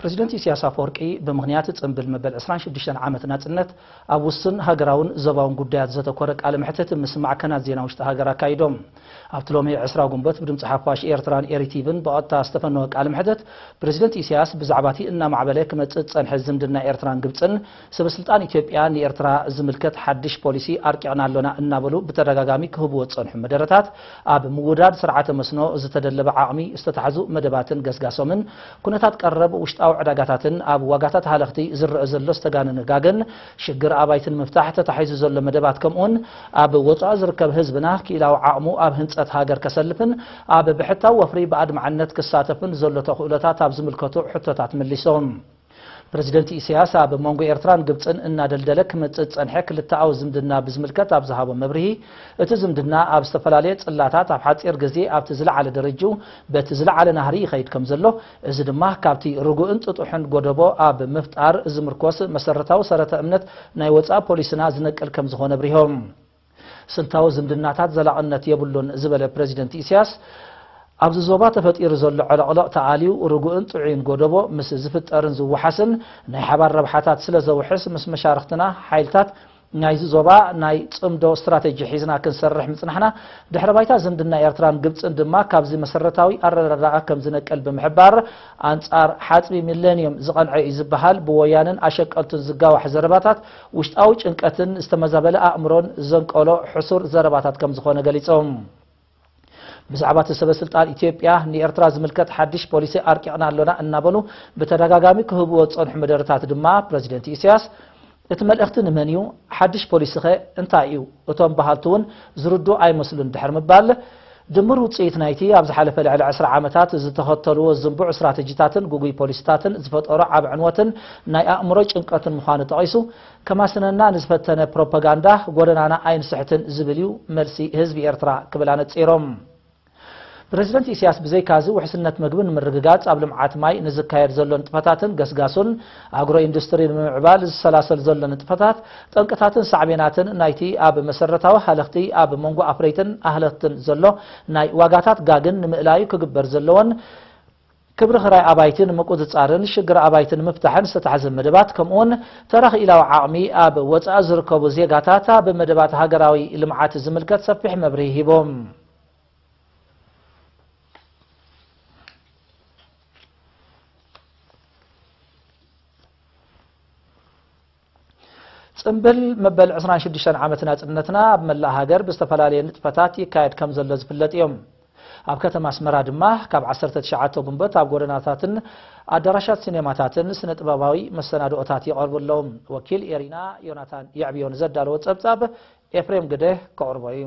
ፕረዚደንት ኢሲያስ ኣፈወርቂ ብምኽንያት ጽንብል መበል ዕስራን ሽዱሽተን ዓመት ናጽነት ኣብ ውሱን ሃገራውን ዘባውን ጉዳያት ዘተኮረ ቃለ መሕትት ምስ ማዕከናት ዜና ውሽጢ ሃገር ኣካይዶም። ኣብቲ ሎሚ ዕስራ ግንቦት ብድምጺ ሓፋሽ ኤርትራን ኤሪቲቪን ብቐጥታ ዝተፈነወ ቃለ መሕትት ፕረዚደንት ኢሲያስ ብዛዕባቲ እናማዕበለ ክመጽእ ዝጸንሐ ዝምድና ኤርትራን ግብጽን ሰበስልጣን ኢትዮጵያ ንኤርትራ ዝምልከት ሓድሽ ፖሊሲ ኣርቂቕና ኣሎና እናበሉ ብተደጋጋሚ ክህቡዎ ዝጸንሑ መደረታት፣ ኣብ ምውዳድ ስርዓተ መስኖ ዝተደለበ ዓቕሚ፣ ዝተታሕዙ መደባትን ገስጋሶምን፣ ኩነታት ቀረብ ውሽጣዊ ዕዳጋታትን ኣብ ዋጋታት ሃለኽቲ ዝረኣ ዘሎ ዝተጋነነ ጋገን ሽግር ኣባይቲ ንምፍታሕ ተታሒዙ ዘሎ መደባት ከምኡውን ኣብ ወጻኢ ዝርከብ ህዝብና ክኢላዊ ዓቕሙ ኣብ ህንጸት ሃገር ከሰልፍን ኣብ ብሕታዊ ወፍሪ ብኣድማዕነት ክሳተፍን ዘሎ ተኽእሎታት ኣብ ዝምልከቱ ሕቶታት መሊሶም። ፕረዚደንት ኢሳያስ ኣብ መንጎ ኤርትራን ግብጽን እናደልደለ ክመጽእ ዝጸንሐ ክልተኣዊ ዝምድና ብዝምልከት ኣብ ዝሃቦ መብርሂ፣ እቲ ዝምድና ኣብ ዝተፈላለየ ጽላታት ኣብ ሓጺር ግዜ ኣብቲ ዝለዓለ ደረጅኡ በቲ ዝለዓለ ናህሪ ይኸይድ ከምዘሎ፣ እዚ ድማ ካብቲ ርጉእን ጥጡሕን ጎደቦ ኣብ ምፍጣር ዝምርኮስ መሰረታዊ ሰረተ እምነት ናይ ወጻኢ ፖሊስና ዝነቅል ከምዝኾነ ኣብሪሆም። ስልታዊ ዝምድናታት ዘላቕነት የብሉን ዝበለ ፕረዚደንት ኢሳያስ፣ ኣብዚ ዞባ ተፈጢሩ ዘሎ ዕልቕልቕ ተኣልዩ ርጉእን ጥዑይን ጎደቦ ምስ ዝፍጠርን ዝወሓስን ናይ ሓባር ረብሓታት ስለ ዘውሕስ ምስ መሻርኽትና ሓይልታት ናይዚ ዞባ ናይ ጽምዶ ስትራቴጂ ሒዝና ክንሰርሕ ምጽናሕና፣ ድሕረ ባይታ ዝምድና ኤርትራን ግብጽን ድማ ካብዚ መሰረታዊ ኣረዳድኣ ከም ዝነቅል ብምሕባር፣ ኣንጻር ሓጽቢ ሚለንዩም ዝቐንዐ እዩ ዝበሃል ብወያነን ኣሸቀልቱን ዝጋዋሕ ዘረባታት፣ ውሽጣዊ ጭንቀትን ዝተመዛበለ ኣእምሮን ዘንቀሎ ሕሱር ዘረባታት ከም ዝኾነ ገሊጾም። ብዛዕባ እቲ ሰበ ስልጣን ኢትዮጵያ ንኤርትራ ዝምልከት ሓድሽ ፖሊሲ ኣርቂቕና ኣሎና እናበሉ ብተደጋጋሚ ክህብዎ ዝጸንሑ መደረታት ድማ ፕረዚደንት ኢሳያስ እቲ መልእኽቲ ንመን እዩ? ሓድሽ ፖሊሲኸ እንታይ እዩ? እቶም በሃልቲ እውን ዝርድኡ ኣይመስሉን ድሕሪ ምባል ድምር ውጽኢት ናይቲ ኣብ ዝሓለፈ ልዕሊ ዕስራ ዓመታት ዝተኸተሉዎ ዝንቡዕ ስትራተጂታትን ግጉይ ፖሊሲታትን ዝፈጠሮ ዓቢ ዕንወትን ናይ ኣእምሮ ጭንቀትን ምዃኑ ጠቒሱ፣ ከማስነና ንዝፈተነ ፕሮፓጋንዳ ጎደናና ኣይንስሕትን ዝብል እዩ መልሲ ህዝቢ ኤርትራ ክብል ኣነጺሩ። ፕረዚደንት ኢሲያስ ብዘይካ'ዚ ውሕስነት መግቢ ንምርግጋጽ ኣብ ልምዓት ማይ ንዝካየድ ዘሎ ንጥፈታትን ገስጋሱን፣ ኣግሮ ኢንዱስትሪ ንምምዕባል ዝሰላሰል ዘሎ ንጥፈታት፣ ጠንቅታትን ሳዕቤናትን ናይቲ ኣብ መሰረታዊ ሃለኽቲ ኣብ መንጎ ኣፍረይትን ኣህለኽትን ዘሎ ናይ ዋጋታት ጋግን ንምእላዩ ክግበር ዘለዎን ክብሪ ክራይ ኣባይቲ ንምቁጽጻርን ሽግር ኣባይቲ ንምፍታሕን ዝተታሕዘ መደባት ከምኡ'ውን ተራ ክኢላዊ ዓቕሚ ኣብ ወጻኢ ዝርከቡ ዜጋታት ኣብ መደባት ሃገራዊ ልምዓት ዝምልከት ሰፊሕ መብርሂ ሂቦም። ጽምብል መበል 26 ዓመት ናጽነትና ኣብ መላእ ሃገር ብዝተፈላለየ ንጥፈታት ይካየድ ከም ዘሎ ዝፍለጥ እዮም ኣብ ከተማ ኣስመራ ድማ ካብ 19 ጉንበት ኣብ ጎደናታትን ኣዳራሻት ሲኔማታትን ስነ ጥበባዊ መሰናድኦታት ይቐርቡ ኣለዉ ወኪል ኤሪና ዮናታን የዕብዮ ንዘዳለዎ ጸብጻብ ኤፍሬም ግደ ከቕርቦ እዩ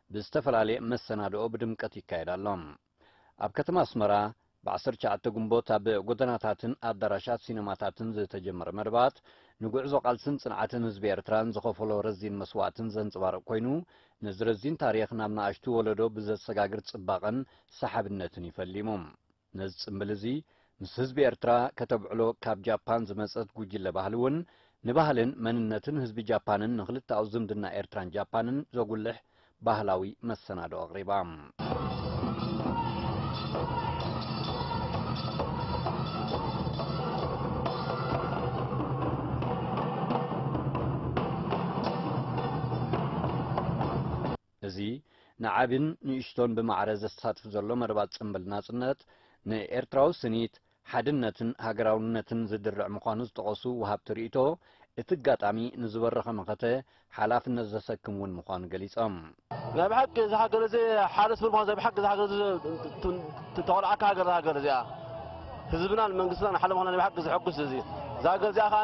ብዝተፈላለየ መሰናድኦ ብድምቀት ይካየድ ኣሎ። ኣብ ከተማ ኣስመራ ብ ዓሰርተ ትሽዓተ ግንቦት ኣብ ጎደናታትን ኣዳራሻት ሲነማታትን ዝተጀመረ መደባት ንጉዕዞ ቃልስን ጽንዓትን ህዝቢ ኤርትራን ዝኸፈሎ ረዚን መስዋእትን ዘንጸባርቕ ኮይኑ ነዚ ረዚን ታሪኽ ናብ ንኣሽቱ ወለዶ ብዘሰጋግር ጽባቐን ሰሓብነትን እዩ ፈሊሙ። ነዚ ጽምብል እዚ ምስ ህዝቢ ኤርትራ ከተብዕሎ ካብ ጃፓን ዝመጸት ጉጅለ ባህሊ እውን ንባህልን መንነትን ህዝቢ ጃፓንን ንክልተኣዊ ዝምድና ኤርትራን ጃፓንን ዘጉልሕ ባህላዊ መሰናድኦ ኣቕሪባ። እዚ ንዓቢን ንእሽቶን ብማዕረ ዘሳትፍ ዘሎ መርባት ጽንብል ናጽነት፣ ንኤርትራዊ ስኒት፣ ሓድነትን ሃገራውነትን ዝድርዕ ምዃኑ ዝጠቐሱ ወሃብቲ ርእይቶ፣ እቲ ኣጋጣሚ ንዝበረኸ መኸተ ሓላፍነት ዘሰክም እውን ምዃኑ ገሊጾም። ናይ ብሓቂ እዛ ሃገር እዚ ሓደ ስብር ምዃኑ ናይ ብሓቂ እዛ ሃገር እዚ ተኾልዓካ ሃገር እዛ ሃገር እዚኣ ህዝብናን መንግስትናን ሓደ ምዃና ናይ ብሓቂ ዘሐጉስ እዚ እዛ ሃገር እዚኣ ከኣ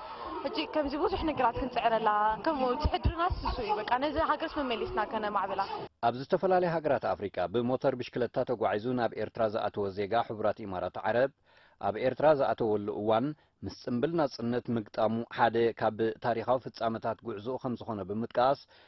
ሕጂ ከምዚ ብዙሕ ነገራት ክንጽዕረላ ከምኡ ትሕድርናስ ስሱ እዩ በቃ ነዚ ሃገርስ መመሊስና ከነማዕብላ። ኣብ ዝተፈላለያ ሃገራት ኣፍሪቃ ብሞተር ብሽክለታ ተጓዒዙ ናብ ኤርትራ ዝኣተወ ዜጋ ሕቡራት ኢማራት ዓረብ፣ ኣብ ኤርትራ ዝኣተወሉ እዋን ምስ ጽምብል ናጽነት ምግጣሙ ሓደ ካብ ታሪኻዊ ፍጻመታት ጉዕዞኡ ከምዝኾነ ብምጥቃስ፣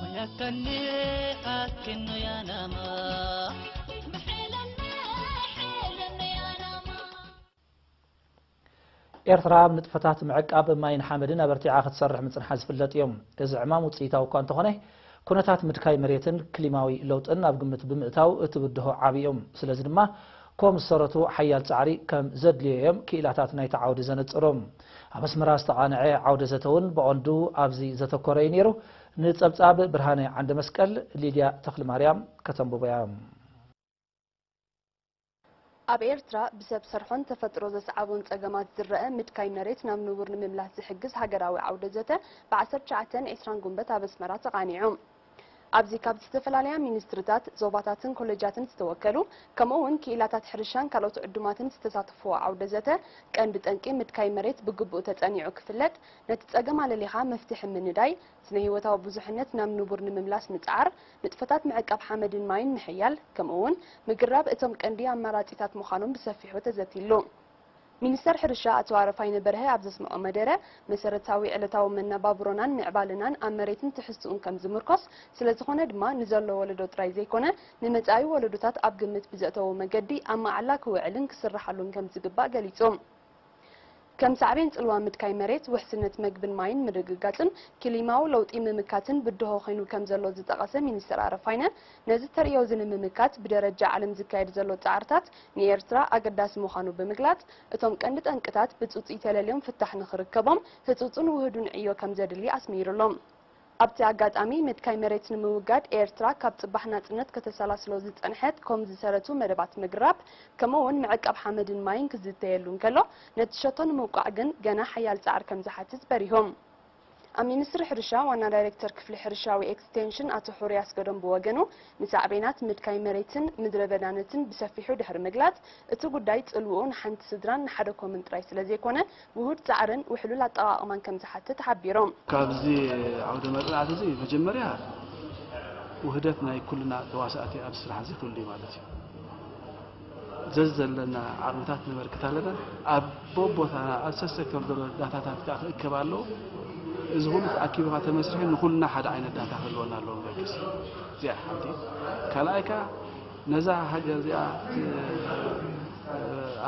መያከኒ ኣኪኖ ያናማ ኤርትራ ኣብ ንጥፈታት ምዕቃብ ማይን ሓመድን ኣበርቲዓ ክትሰርሕ ምጽንሓ ዝፍለጥ እዮም። እዚ ዕማም ውጽኢታዊ እኳ እንተኾነ ኩነታት ምድካይ መሬትን ክሊማዊ ለውጥን ኣብ ግምት ብምእታው እቲ ብድሆ ዓቢ እዩ። ስለዚ ድማ ኮም ዝሰረቱ ሓያል ጻዕሪ ከም ዘድልዮ እዮም ክኢላታት ናይቲ ዓውዲ ዘነጽሩ። ኣብ ኣስመራ ዝተቓንዐ ዓውደ ዘተ'ውን ብቐንዱ ኣብዚ ዘተኮረ እዩ ነይሩ። ንጸብጻብ ብርሃነ ዓንደመስቀል ሊድያ ተኽልማርያም ከተንብቦ'ያ። ኣብ ኤርትራ ብሰብ ሰርሖን ተፈጥሮ ዘስዓቦን ጸገማት ዝረኣ ምድካይ መሬት ናብ ንቡር ንምምላስ ዝሕግዝ ሃገራዊ ዓውደ ዘተ ብ ዓሰርተ ትሽዓተ ን ዕስራን ጉንበት ኣብ ኣስመራ ተቓኒዑ። ኣብዚ ካብ ዝተፈላለያ ሚኒስትሪታት፣ ዞባታትን ኮሌጃትን ዝተወከሉ ከምኡ እውን ክኢላታት ሕርሻን ካልኦት ዕዱማትን ዝተሳተፍዎ ዓውደ ዘተ ቀንዲ ጠንቂ ምድካይ መሬት ብግቡእ ተፀኒዑ ክፍለጥ፣ ነቲ ፀገም ኣለሊኻ መፍትሒ ምንዳይ፣ ስነ ህይወታዊ ብዙሕነት ናብ ንቡር ንምምላስ ምፅዓር፣ ንጥፈታት ምዕቃብ ሓመድን ማይን ምሕያል ከምኡ እውን ምግራብ እቶም ቀንዲ ኣማራፂታት ምዃኖም ብሰፊሑ ተዘትይሉ። ሚኒስተር ሕርሻ ኣቶ ኣረፋይነ በርሀ ኣብ ዘስመዖ መደረ፣ መሰረታዊ ዕለታዊ መነባብሮናን ምዕባለናን ኣብ መሬትን ትሕዝትኡን ከም ዝምርኮስ፣ ስለዝኾነ ድማ ንዘሎ ወለዶ ጥራይ ዘይኮነ ንመጻኢ ወለዶታት ኣብ ግምት ብዘእተወ መገዲ ኣብ መዓላ ክውዕልን ክስርሓሉን ከም ዝግባእ ገሊጹ። ከም ሳዕቤን ጽልዋ ምድካይ መሬት፣ ውሕስነት መግብን ማይን ምርግጋጽን፣ ኪሊማዊ ለውጢ ምምካትን ብድሆ ኮይኑ ከም ዘሎ ዝጠቐሰ ሚኒስተር ኣረፋይነ፣ ነዚ ተርእዮ እዚ ንምምካት ብደረጃ ዓለም ዝካየድ ዘሎ ጻዕርታት ንኤርትራ ኣገዳሲ ምዃኑ ብምግላጽ፣ እቶም ቀንዲ ጠንቅታት ብጽጹይ ተለልዮም ፍታሕ ንኽርከቦም ህጹጽን ውሁዱን ዕዮ ከም ዘድሊ ኣስሚርሉ። ኣብቲ ኣጋጣሚ፣ ምድካይ መሬት ንምውጋድ ኤርትራ ካብ ጽባሕ ናጽነት ከተሰላስሎ ዝጸንሐት ኮም ዝሰረቱ መደባት ምግራብ ከምኡ'ውን ምዕቃብ ሓመድን ማይን ክዝተየሉ እንከሎ፣ ነቲ ሸቶ ንምውቃዕ ግን ገና ሓያል ጻዕሪ ከም ዝሓትት በሪሁ። ኣብ ሚኒስትሪ ሕርሻ ዋና ዳይሬክተር ክፍሊ ሕርሻዊ ኤክስቴንሽን ኣቶ ሑሩይ ኣስገዶም ብወገኑ፣ ንሳዕቤናት ምድካይ መሬትን ምድረ በዳነትን ብሰፊሑ ድሕሪ ምግላጽ፣ እቲ ጉዳይ ጽልውኡ ንሓንቲ ስድራን ንሓደ ኮምን ጥራይ ስለ ዘይኮነ፣ ውሁድ ጻዕርን ውሕሉል ኣጠቓቕማን ከም ዝሓትት ሓቢሩ። ካብዚ ዓውደ መጽናዕቲ እዚ መጀመርያ ውህደት ናይ ኩልና ተዋሳእቲ ኣብዚ ስራሕ እዚ ክህሉ እዩ ማለት እዩ። ዘዘለና ዓቕምታት ነበርክት ኣለና። ኣብ ቦቦታና ኣብ ሰሰከም ዘሎ ዳታታት ከኣ ክእከብ ኣለዎ። እዚ ኩሉ ተኣኪቡ ከኣ ተመስሪሑ ንኩልና ሓደ ዓይነት ዳታ ክህልወና ኣለዎ ንበግስ እዚኣ ሓንቲ ካልኣይ ከኣ ነዛ ሃገር እዚኣ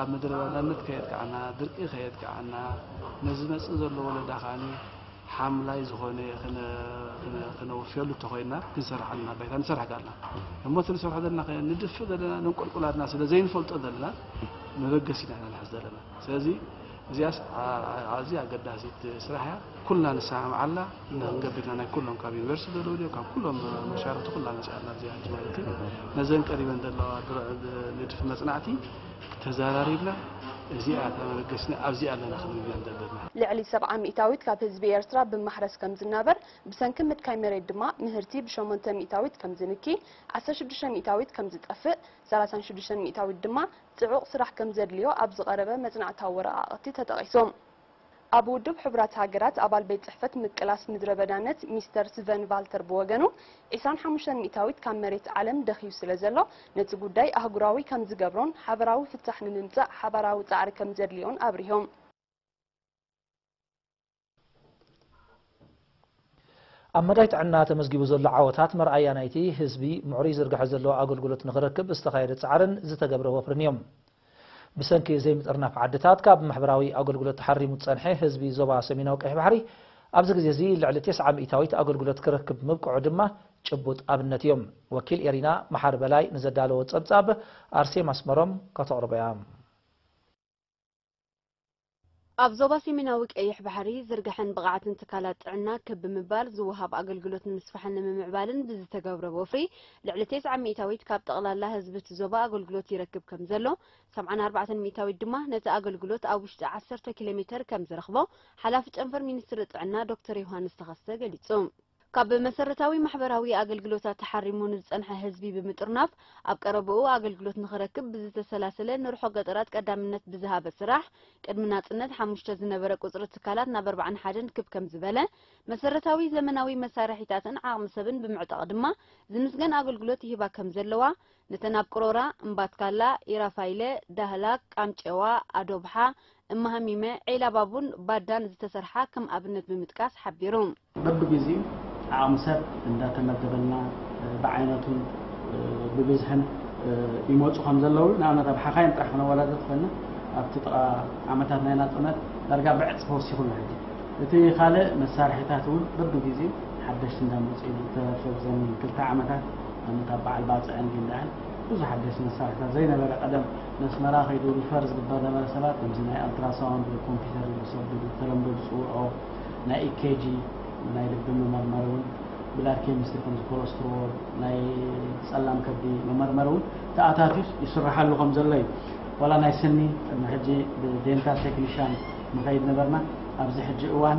ኣብ ምድረ ባዳነት ከየጥቅዓና ድርቂ ከየጥቅዓና ነዚ መጽእ ዘሎ ወለዳ ከኣ ሓምላይ ዝኾነ ክነወፍየሉ እተኾይንና ክንሰርሕ ኣለና ባይታ ንሰርሕ ጋልና እሞ እቲ ንሰርሖ ዘለና ንድፍ ዘለና ንንቆልቁል ኣልና ስለ ዘይንፈልጦ ዘለና መበገሲ ኢና ኢና ንሕዝ ዘለና ስለዚ እዚኣስ ኣዝያ ኣገዳሲት ስራሕ እያ ኩልና ንሰማምዓላ ንክንገብርና ናይ ኩሎም ካብ ዩኒቨርሲቲ ዘለዉ ድዮ ካብ ኩሎም መሻርክቲ ኩላ መፅኣና እዚኣ ማለት እዩ ነዘን ቀሪበን ዘለዋ ንድፊ መፅናዕቲ ተዛራሪብና እዚኣ ተበገስና ኣብዚኣ ኣለና ክንብል ኢና ዘለና። ልዕሊ ሰብዓ ሚእታዊት ካብ ህዝቢ ኤርትራ ብማሕረስ ከም ዝናበር ብሰንኪ ምድካይ መሬት ድማ ምህርቲ ብሸሞንተ ሚእታዊት ከም ዝንኪ ዓሰርተ ሽዱሽተ ሚእታዊት ከም ዝጠፍእ ሰላሳን ሽዱሽተን ሚእታዊት ድማ ጽዑቕ ስራሕ ከም ዘድልዮ ኣብ ዝቐረበ መጽናዕታዊ ወረቓቕቲ ተጠቒሶም ኣብ ውድብ ሕቡራት ሃገራት ኣባል ቤት ጽሕፈት ምቅላስ ምድረበዳነት ሚስተር ስቨን ቫልተር ብወገኑ፣ ዕስራን ሓሙሽተን ሚእታዊት ካብ መሬት ዓለም ደኺዩ ስለ ዘሎ፣ ነቲ ጉዳይ ኣህጉራዊ ከም ዝገብሮን ሓበራዊ ፍታሕ ንምምጻእ ሓባራዊ ጻዕሪ ከም ዘድልዮን ኣብሪሆም። ኣብ መዳይ ጥዕና ተመዝጊቡ ዘሎ ዓወታት መርኣያ ናይቲ ህዝቢ ምዕሩይ ዝርግሐ ዘለዎ ኣገልግሎት ንኽረክብ ዝተኻየደ ፃዕርን ዝተገብረ ወፍርን እዮም። ብሰንኪ ዘይምጥርናፍ ዓድታት ካብ ማሕበራዊ ኣገልግሎት ተሓሪሙ ዝፀንሐ ህዝቢ ዞባ ሰሜናዊ ቀይሕ ባሕሪ ኣብዚ ግዜ እዚ ልዕሊ ቴስዓ ሚኢታዊት ኣገልግሎት ክረክብ ምብቅዑ ድማ ጭቡጥ ኣብነት እዩ። ወኪል ኤሪና መሓሪ በላይ ንዘዳለዎ ፀብፃብ ኣርሴማ ኣስመሮም ከተቕርቦ እያ። ኣብ ዞባ ሰሜናዊ ቀይሕ ባሕሪ ዝርግሐን ብቕዓትን ትካላት ጥዕና ክብ ብምባል ዝወሃብ ኣገልግሎት ንምስፋሕን ንምምዕባልን ብዝተገብረ ወፍሪ ልዕሊ ቴስዓ ሚእታዊት ካብ ጠቕላላ ህዝቢ እቲ ዞባ ኣገልግሎት ይረክብ ከም ዘሎ ሰብዓን ኣርባዕተን ሚእታዊት ድማ ነቲ ኣገልግሎት ኣብ ውሽጢ ዓሰርተ ኪሎሜተር ከም ዝረኽቦ ሓላፊ ጨንፈር ሚኒስትሪ ጥዕና ዶክተር ዮሃንስ ተኸስተ ገሊጹ። ካብ መሰረታዊ ማሕበራዊ ኣገልግሎታት ተሓሪሙ ንዝጸንሐ ህዝቢ ብምጥርናፍ ኣብ ቀረባኡ ኣገልግሎት ንኽረክብ ብዝተሰላሰለ ንርሖ ገጠራት ቀዳምነት ብዝሃበ ስራሕ ቅድሚ ናጽነት ሓሙሽተ ዝነበረ ቁጽሪ ትካላት ናብ ኣርባዓን ሓደን ክብ ከምዝበለ መሰረታዊ ዘመናዊ መሳርሒታትን ዓቕሚ ሰብን ብምዕጣቕ ድማ ዝምስገን ኣገልግሎት ይህባ ከምዘለዋ ነተን ኣብ ቅሮራ፣ እምባትካላ፣ ኢራፋይለ፣ ዳህላክ፣ ቃምጨዋ፣ ኣዶብሓ፣ እማሃሚመ፣ ዒላባቡን ባዳን ዝተሰርሓ ከም ኣብነት ብምጥቃስ ሓቢሩ። በብግዚኡ ዓቕሚ ሰብ እንዳተመደበልና ብዓይነቱን ብብዝሕን ይመጹ ከም ዘለዉ ንኣብነት ኣብ ሓኻይም ጥራሕ ክነወዳድር ተኾይና ኣብቲ ጥቓ ዓመታት ናይ ናጽነት ዳርጋ ብዕጽፊ ወሲኹ ኣሎ ሕጂ እቲ ካልእ መሳርሒታት እውን በብግዚኡ ሓደሽቲ እንዳመጹ ኢዮም ብተረፈ ብዘን ክልተ ዓመታት ንኣብነት ኣብ በዓል ባጽዕን ጊንዳዕን ብዙሕ ሓደሽቲ መሳርሒታት ዘይነበረ ቀደም ነስመራ ከይዱ ሪፈር ዝግበር ነበረ ሰባት ከምዚ ናይ ኣልትራሳውንድ ወይ ኮምፒተር ኢሉ ብሰብ ብተለምዶ ዝጽውዖ ናይ EKG፣ ናይ ልቢ መመርመሪ ውን፣ ብላድ ኬሚስትሪ ከምዚ ኮለስትሮል፣ ናይ ጸላም ከብዲ መመርመሪ ውን ተኣታትዩስ ይስረሓሉ ከም ዘሎ እዩ። ዋላ ናይ ስኒ ቅድሚ ሕጂ ብዴንታል ቴክኒሻን ንኸይድ ነበርና፣ ኣብዚ ሕጂ እዋን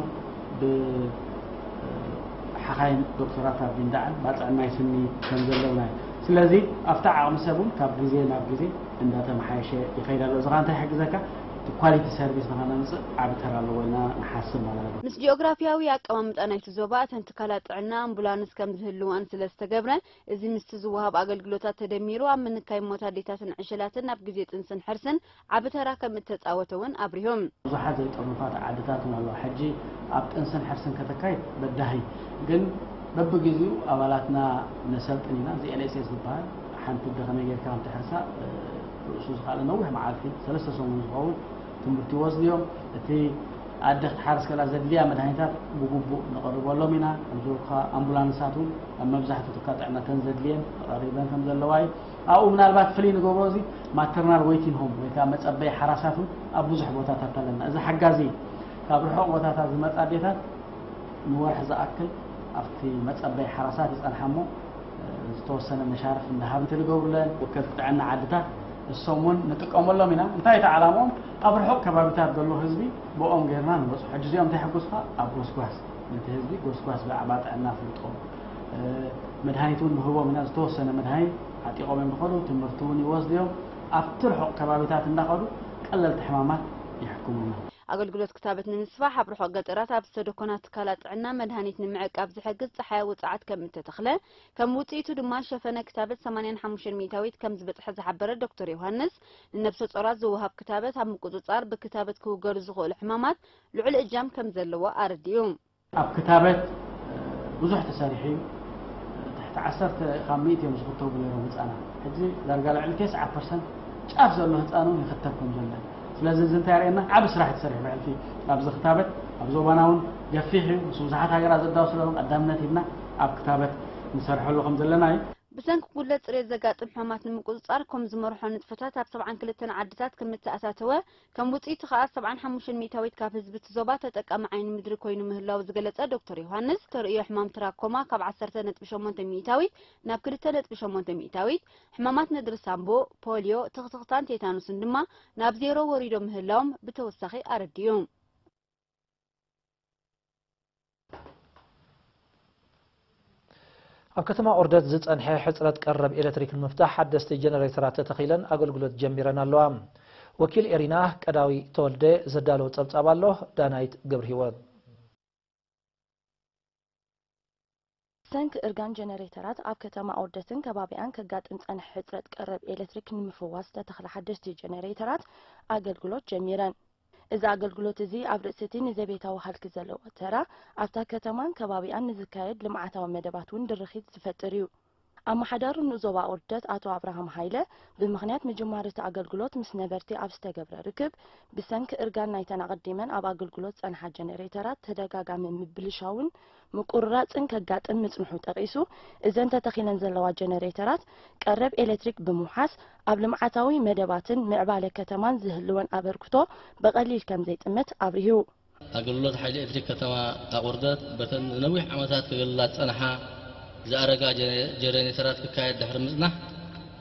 ብሓኻይም ዶክተራት ኣብ ጊንዳዕን ባጽዕን ናይ ስኒ ከም ዘለውና እዩ። ስለዚ ኣብቲ ዓቕሚ ሰብ ውን ካብ ግዜ ናብ ግዜ እንዳተመሓየሸ ይኸይድ ኣሎ። እዚ ከኣ እንታይ ይሕግዘካ? እቲ ኳሊቲ ሰርቪስ ንኸነምፅእ ዓቢ ተራ ኣለዎ ኢልና ንሓስብ ማለት እዩ። ምስ ጂኦግራፊያዊ ኣቀማምጣ ናይቲ ዞባ እተን ትካላት ጥዕና ኣምቡላንስ ከምዝህልወን ስለዝተገብረ እዚ ምስቲ ዝወሃብ ኣገልግሎታት ተደሚሩ ኣብ ምንካይ ሞት ኣዴታትን ዕሸላትን ኣብ ግዜ ጥንስን ሕርስን ዓቢ ተራ ከምእተጻወተ እውን ኣብሪሁ። ብዙሓት ዘይጥርኑፋት ዓድታት እውን ኣለዋ ሕጂ ኣብ ጥንስን ሕርስን ከተካይድ በዳሂ ግን በብግዚኡ ኣባላትና ነሰልጥን ኢና እዚ LSS ዝበሃል ሓንቲ ኣደ ከመይ ጌርካ ከምተሕርሳ ርእሱ ዝኸኣለ ነዊሕ መዓልቲ ሰለስተ ሰሙን ዝኸውን ትምህርቲ ይወስዱ እዮም። እቲ ኣደ ክትሓርስ ከላ ዘድልያ መድሃኒታት ብግቡእ ነቕርበሎም ኢና። ከምዝበልኩ ከኣ ኣምቡላንሳት እውን ኣብ መብዛሕትኡ ትካል ጥዕና እተን ዘድልየን ተቐሪበን ከም ዘለዋ እዩ። ኣብኡ ምናልባት ፍልይ ንገብሮ እዚ ማተርናል ወይቲን ሆም ወይ ከኣ መጸበዪ ሓራሳት እውን ኣብ ብዙሕ ቦታታት ኣለና። እዚ ሓጋዚ እዩ። ካብ ርሑቕ ቦታታት ዝመጻ ኣዴታት ንወርሒ ዝኣክል ኣብቲ መጸበዪ ሓራሳት ይጸንሓ እሞ ዝተወሰነ መሻርፍ እንዳሃብቲ ንገብሩለን ወከልቲ ጥዕና ዓድታት እሶም ውን ንጥቀመሎም ኢና እንታይ እቲ ዓላምኦም ኣብ ርሑቕ ከባቢታት ዘሎ ህዝቢ ብኦም ገይርና ንበፅሑ ሕጂ እዚኦም እንታይ ሕጉስካ ኣብ ጎስጓስ ነቲ ህዝቢ ጎስጓስ ብዛዕባ ጥዕና ፍልጦ መድሃኒት ውን ንህቦም ኢና ዝተወሰነ መድሃኒት ዓጢቆም እዮም ዝኸዱ ትምህርቲ ውን ይወስዱ እዮም ኣብቲ ርሑቕ ከባቢታት እንዳኸዱ ቀለልቲ ሕማማት የሕክሙና ኣገልግሎት ክታበት ንምስፋሕ ኣብ ርሑቕ ገጠራት ኣብ ዝተደኮና ትካላት ጥዕና መድሃኒት ንምዕቃብ ዝሕግዝ ጸሓያዊ ጸዓት ከም እተተኽለ፣ ከም ውጽኢቱ ድማ ሸፈነ ክታበት ሰማንያን ሓሙሽተን ሚእታዊት ከም ዝበጽሐ ዝሓበረ ዶክተር ዮሃንስ፣ ንነብሰጾራት ዝወሃብ ክታበት ኣብ ምቁጽጻር ብክታበት ክውገዱ ዝኽእሉ ሕማማት ልዑል እጃም ከም ዘለዎ ኣረዲኡ። ኣብ ክታበት ብዙሕ ተሰሪሑ እዩ። ትሕቲ ዓሰርተ ካብ ሚእቲ እዮም ዝኽተቡ ነይሮም ህጻናት። ሕጂ ዳርጋ ልዕሊ ቴስዓ ፐርሰንት ጫፍ ዘሎ ህጻን እውን ይኽተብ ከም ዘሎ እዩ። ስለዚ እዚ እንታይ የርእየና ዓቢ ስራሕ እዩ ተሰሪሑ ብሕልፊ ኣብዚ ክታበት ኣብ ዞባና እውን ገፊሕ እዩ ምስ ብዙሓት ሃገራት ዘዳው ስለዝኾነ ቀዳምነት ሂብና ኣብ ክታበት ንሰርሐሉ ከም ዘለና እዩ። ብሰንኪ ጉድለት ፅሬት ዘጋጥም ሕማማት ንምቁፅፃር ኮም ዝመርሖ ንጥፈታት ኣብ ሰብዓን ክልተን ዓድታት ከም እተኣታተወ ከም ውፅኢቱ ከዓ ሰብዓን ሓሙሽተን ሚእታዊት ካብ ህዝቢ እቲ ዞባ ተጠቃሚ ዓይኒ ምድሪ ኮይኑ ምህላዉ ዝገለፀ ዶክተር ዮሃንስ ተርእዮ ሕማም ትራኮማ ካብ ዓሰርተ ነጥቢ ሸሞንተ ሚእታዊት ናብ ክልተ ነጥቢ ሸሞንተ ሚእታዊት ሕማማት ነድሪ ሳንቦ፣ ፖልዮ፣ ትኽትኽታን ቴታኑስን ድማ ናብ ዜሮ ወሪዶም ምህላዎም ብተወሳኺ ኣረዲኡ። ኣብ ከተማ ኦርደት ዝፀንሐ ሕፅረት ቀረብ ኤሌክትሪክ ንምፍታሕ ሓደስቲ ጀነሬተራት ተተኺለን ኣገልግሎት ጀሚረን ኣለዋ። ወኪል ኤሪና ቀዳዊ ተወልደ ዘዳለዎ ፀብፃብ ኣሎ፣ ዳናይት ገብርሂወት። ብሰንኪ እርጋን ጀነሬተራት ኣብ ከተማ ኣውደትን ከባቢኣን ከጋጥም ዝጸንሐ ሕጽረት ቀረብ ኤለትሪክ ንምፍዋስ ዝተተኽላ ሓደሽቲ ጀነሬተራት ኣገልግሎት ጀሚረን። እዚ ኣገልግሎት እዚ ኣብ ርእሲ'ቲ ንዘቤታዊ ሃልኪ ዘለዎ ተራ፣ ኣብታ ከተማን ከባቢኣን ንዝካየድ ልምዓታዊ መደባት እውን ድርኺት ዝፈጥር እዩ። ኣመሓዳሪ ንኡስ ዞባ ኦርደት ኣቶ ኣብርሃም ሃይለ፣ ብምኽንያት ምጅማር እቲ ኣገልግሎት ምስ ነበርቲ ኣብ ዝተገብረ ርክብ፣ ብሰንኪ እርጋን ናይተን ኣቐዲመን ኣብ ኣገልግሎት ዝጸንሓ ጀነሬተራት ተደጋጋሚ ምብልሻውን ምቁርራጽን ከጋጥም ምጽንሑ ጠቒሱ፣ እዘን ተተኺለን ዘለዋ ጀነሬተራት፣ ቀረብ ኤለትሪክ ብምውሓስ፣ ኣብ ልምዓታዊ መደባትን ምዕባለ ከተማን ዝህልወን ኣበርክቶ ብቐሊል ከምዘይጥምት ኣብሪሁ። ኣገልግሎት ሓይሊ ኤሌክትሪክ ከተማ ኣቑርደት በተን ንነዊሕ ዓመታት ከገልግላ ዝጸንሓ ዝኣረጋ ጀረኔተራት ክካየድ ድሕሪ ምጽናሕ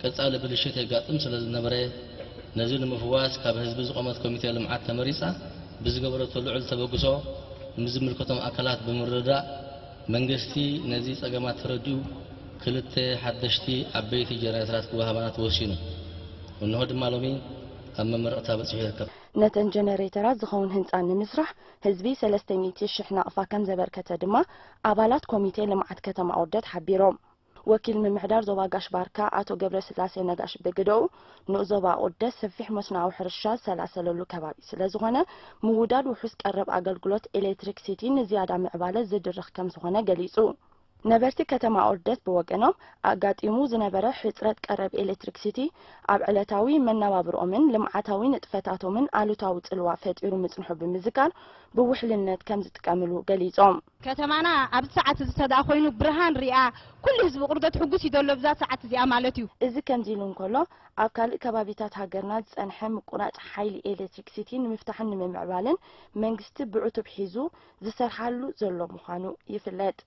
ቀጻሊ ብልሽት የጋጥም ስለዝነበረ ነዚ ንምፍዋስ ካብ ህዝቢ ዝቖመት ኮሚቴ ልምዓት ተመሪጻ ብዝገበረቶ ልዑል ተበግሶ ምስ ዝምልከቶም ኣካላት ብምርድዳእ መንግስቲ ነዚ ጸገማት ተረዲኡ ክልተ ሓደሽቲ ዓበይቲ ጀረኔተራት ክወሃባና ተወሲኑ እንሆ ድማ ሎሚ ኣብ መመረቕታ በጺሑ ይርከብ። ነተን ጀነሬተራት ዝኸውን ህንፃ ንምስራሕ ህዝቢ ሰለስተ ሚእቲ ሽሕ ናቕፋ ከምዘበርከተ ድማ ኣባላት ኮሚቴ ልምዓት ከተማ ኣውርደት ሓቢሮም። ወኪል ምምሕዳር ዞባ ጋሽ ባርካ ኣቶ ገብረስላሴ ነጋሽ ብግደኡ፣ ንኡስ ዞባ ኣቑርደት ሰፊሕ መስኖኣዊ ሕርሻ ዝሰላሰለሉ ከባቢ ስለዝኾነ ምውዳድ ውሑስ ቀረብ ኣገልግሎት ኤሌክትሪክሲቲ ንዝያዳ ምዕባለ ዝድርኽ ከምዝኾነ ገሊፁ። ነበርቲ ከተማ ኦርደት ብወገኖም፣ ኣጋጢሙ ዝነበረ ሕጽረት ቀረብ ኤሌክትሪክሲቲ፣ ኣብ ዕለታዊ መነባብርኦምን ልምዓታዊ ንጥፈታቶምን ኣሉታዊ ጽልዋ ፈጢሩ ምጽንሑ ብምዝካር፣ ብውሕልነት ከም ዝጥቀምሉ ገሊጾም። ከተማና ኣብዚ ሰዓት እዚ ተድኣ ኮይኑ ብርሃን ሪኣ፣ ኩሉ ህዝቢ ቁርደት ሕጉስ እዩ ዘሎ ብዛ ሰዓት እዚኣ ማለት እዩ። እዚ ከምዚ ኢሉ እንከሎ፣ ኣብ ካልእ ከባቢታት ሃገርና ዝጸንሐ ምቁራጽ ሓይሊ ኤሌክትሪክሲቲ ንምፍታሕን ንምምዕባልን፣ መንግስቲ ብዕቱብ ሒዙ ዝሰርሓሉ ዘሎ ምዃኑ ይፍለጥ።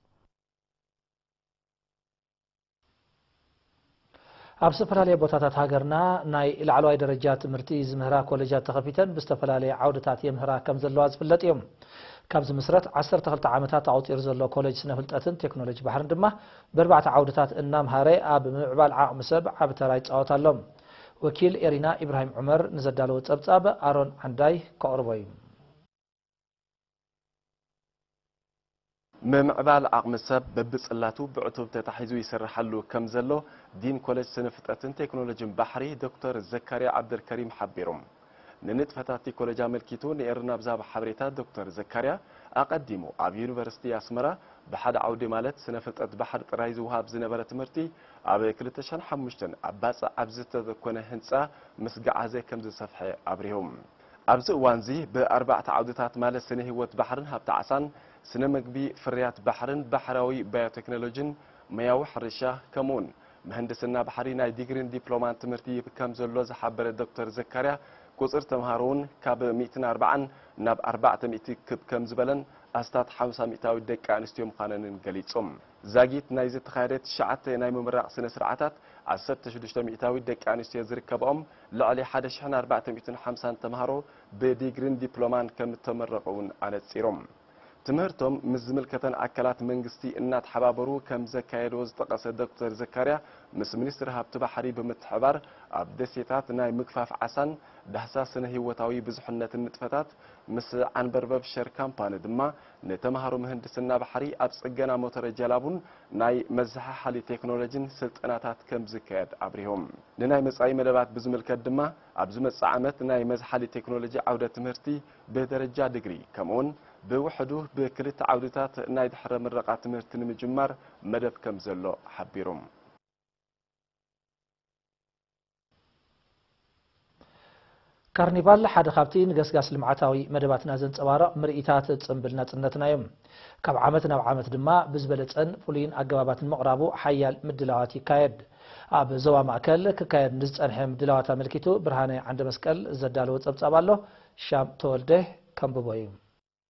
ኣብ ዝተፈላለየ ቦታታት ሃገርና ናይ ላዕለዋይ ደረጃ ትምህርቲ ዝምህራ ኮሌጃት ተኸፊተን ብዝተፈላለየ ዓውድታት የምህራ ከም ዘለዋ ዝፍለጥ እዩ። ካብ ዝምስረት ዓሰርተ ክልተ ዓመታት ኣቑፂሩ ዘሎ ኮሌጅ ስነ ፍልጠትን ቴክኖሎጂ ባሕርን ድማ ብኣርባዕተ ዓውድታት እናምሃረ ኣብ ምምዕባል ዓቕሚ ሰብ ዓቢ ተራ ይፃወት ኣሎ። ወኪል ኤሪና ኢብራሂም ዑመር ንዘዳለዎ ፀብፃብ ኣሮን ዓንዳይ ከቕርቦ እዩ። ምምዕባል ዓቕሚ ሰብ በብጽላቱ ብዕቱብ ተታሒዙ ይስርሓሉ ከምዘሎ ዲን ኮለጅ ስነ-ፍጥረትን ቴክኖሎጅን ባሕሪ ዶክተር ዘካርያ ዓብደልከሪም ሓቢሩ። ንንጥፈታት'ቲ ኮለጅ ኣመልኪቱ ንኤረና ብዝሃቦ ሓበሬታ ዶክተር ዘካርያ፣ ኣቐዲሙ ኣብ ዩኒቨርሲቲ ኣስመራ ብሓደ ዓውዲ ማለት ስነ-ፍልጠት ባሕሪ ጥራይ ዝወሃብ ዝነበረ ትምህርቲ ኣብ ክልተ ሽሕን ሓሙሽተን ኣብ ባጽዕ ኣብ ዝተኮነ ህንጻ ምስ ገዓዘ ከምዝሰፍሐ ኣብሪሁ። ኣብዚ እዋንዚ ብኣርባዕተ ዓውድታት ማለት ስነ ህይወት ባሕርን ሃብቲ ዓሳን፣ ስነ ምግቢ፣ ፍርያት ባሕርን ባሕራዊ ባዮቴክኖሎጂን፣ ሞያዊ ሕርሻ ከምኡውን ምህንድስና ባሕሪ ናይ ዲግሪን ዲፕሎማን ትምህርቲ ይህብ ከምዘሎ ዝሓበረ ዶክተር ዘካርያ ቁፅሪ ተምሃሮውን ካብ ሚእትን ኣርባዓን ናብ ኣርባዕተ ሚእቲ ክብ ከምዝበለን ኣስታት ሓምሳ ሚእታዊት ደቂ ኣንስትዮ ምዃነንን ገሊፁ። ዛጊት ናይ ዝተኻየደ ትሽዓተ ናይ ምምራቕ ስነ ስርዓታት ዓሰርተ ሽዱሽተ ሚኢታዊት ደቂ ኣንስትዮ ዝርከበኦም ልዕሊ ሓደ ሽሕን ኣርባዕተ ሚእትን ሓምሳን ተምሃሮ ብዲግሪን ዲፕሎማን ከምእተመረቑ እውን ኣነፂሩ። ትምህርቶም ምስ ዝምልከተን ኣካላት መንግስቲ እናተሓባበሩ ከምዘካየድዎ ዝጠቐሰ ዶክተር ዘካርያ ምስ ሚኒስትሪ ሃብቲ ባሕሪ ብምትሕብባር ኣብ ደሴታት ናይ ምግፋፍ ዓሳን ዳህሳስ ስነ ህይወታዊ ብዙሕነትን ንጥፈታት ምስ ዓንበርበብ ሸር ካምፓኒ ድማ ንተምሃሮ ምህንድስና ባሕሪ ኣብ ጽገና ሞተረ ጀላቡን ናይ መዘሓሓሊ ቴክኖሎጂን ስልጠናታት ከምዝካየድ ኣብሪሆም። ንናይ መጻኢ መደባት ብዝምልከት ድማ ኣብ ዝመጽእ ዓመት ናይ መዝሓሊ ቴክኖሎጂ ዓውደ ትምህርቲ ብደረጃ ድግሪ ከምኡ'ውን ብውሕዱ ብክልተ ዓውዲታት ናይ ድሕረ ምረቓ ትምህርቲ ንምጅማር መደብ ከምዘሎ ሓቢሮም። ካርኒቫል ሓደ ካብቲ ንገስጋስ ልምዓታዊ መደባትና ዘንጸባርቕ ምርኢታት ጽምብል ናጽነትና እዩ። ካብ ዓመት ናብ ዓመት ድማ ብዝበለጸን ፍሉይን ኣገባባት ንምቕራቡ ሓያል ምድላዋት ይካየድ። ኣብ ዞባ ማእከል ክካየድ ንዝጸንሐ ምድላዋት ኣመልኪቱ ብርሃነ ዓንደመስቀል ዘዳለዎ ጸብጻብ ኣሎ፣ ሻም ተወልደ ከንብቦ እዩ።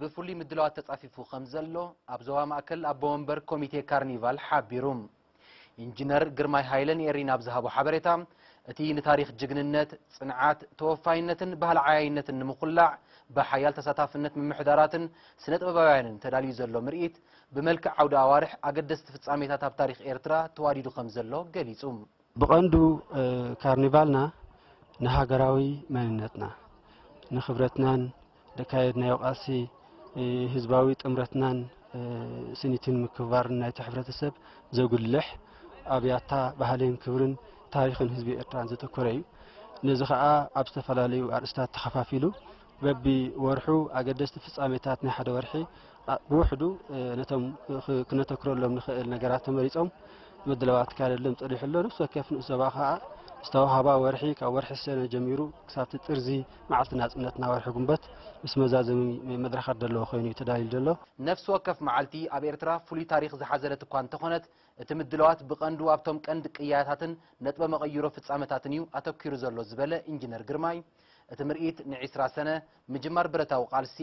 ብፍሉይ ምድላዋት ተጻፊፉ ከምዘሎ ኣብ ዞባ ማእከል ኣቦ ወንበር ኮሚቴ ካርኒቫል ሓቢሩ። ኢንጂነር ግርማይ ሃይለ ንኤሪ ናብ ዝሃቦ ሓበሬታ፣ እቲ ንታሪኽ ጅግንነት፣ ጽንዓት፣ ተወፋይነትን ባህሊ ዓያይነትን ንምኹላዕ ብሓያል ተሳታፍነት ምምሕዳራትን ስነ-ጥበባውያንን ተዳልዩ ዘሎ ምርኢት ብመልክዕ ዓውደ ኣዋርሕ ኣገደስቲ ፍጻሜታት ኣብ ታሪኽ ኤርትራ ተዋዲዱ ከምዘሎ ገሊጹ። ብቐንዱ ካርኒቫልና ንሃገራዊ መንነትና፣ ንክብረትናን ዘካየድናዮ ቃልሲ፣ ህዝባዊ ጥምረትናን ስኒትን ምክብባርን ናይቲ ሕብረተሰብ ዘጉልሕ፣ ኣብ ያታ ባህልን ክብርን ታሪኽን ህዝቢ ኤርትራን ዘተኮረ እዩ። ነዚ ከኣ ኣብ ዝተፈላለዩ ኣርእስታት ተኸፋፊሉ በቢ ወርሑ ኣገደስቲ ፍጻሜታት ናይ ሓደ ወርሒ ብውሕዱ ነቶም ክነተክረሎም ንኸእል ነገራት ተመሪጾም ምድላዋት ክካየደሎም ጸኒሑ ኣሎ። ነፍሲ ወከፍ ንኡስ ዞባ ከኣ ዝተዋህባ ወርሒ ካብ ወርሒ ሰነ ጀሚሩ ክሳብቲ ጥርዚ መዓልቲ ናጽነትና ወርሒ ጉንበት ምስ መዛዘሚ መድረኻት ዘለዎ ኮይኑ እዩ ተዳልዩ ዘሎ። ነፍሲ ወከፍ መዓልቲ ኣብ ኤርትራ ፍሉይ ታሪኽ ዝሓዘለት እኳ እንተኾነት እቲ ምድላዋት ብቐንዱ ኣብቶም ቀንዲ ቅያታትን ነጥበ መቐይሮ ፍጻመታትን እዩ ኣተኲሩ ዘሎ ዝበለ ኢንጂነር ግርማይ እቲ ምርኢት ንዒስራ ሰነ ምጅማር ብረታዊ ቃልሲ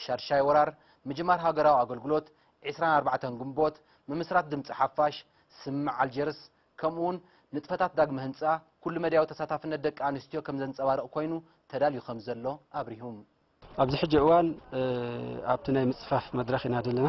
ሻድሻይ ወራር፣ ምጅማር ሃገራዊ ኣገልግሎት፣ ዕስራን ኣርባዕተን ግንቦት፣ ምምስራት ድምጺ ሓፋሽ፣ ስምምዕ ኣልጀርስ፣ ከምኡ'ውን ንጥፈታት ዳግመ ህንጻ፣ ኩሉ-መዳያዊ ተሳታፍነት ደቂ ኣንስትዮ ከም ዘንጸባርቕ ኰይኑ ተዳልዩ ከም ዘሎ ኣብሪሁ። ኣብዚ ሕጂ እዋን ኣብቲ ናይ ምጽፋፍ መድረኽ ኢና ዘለና።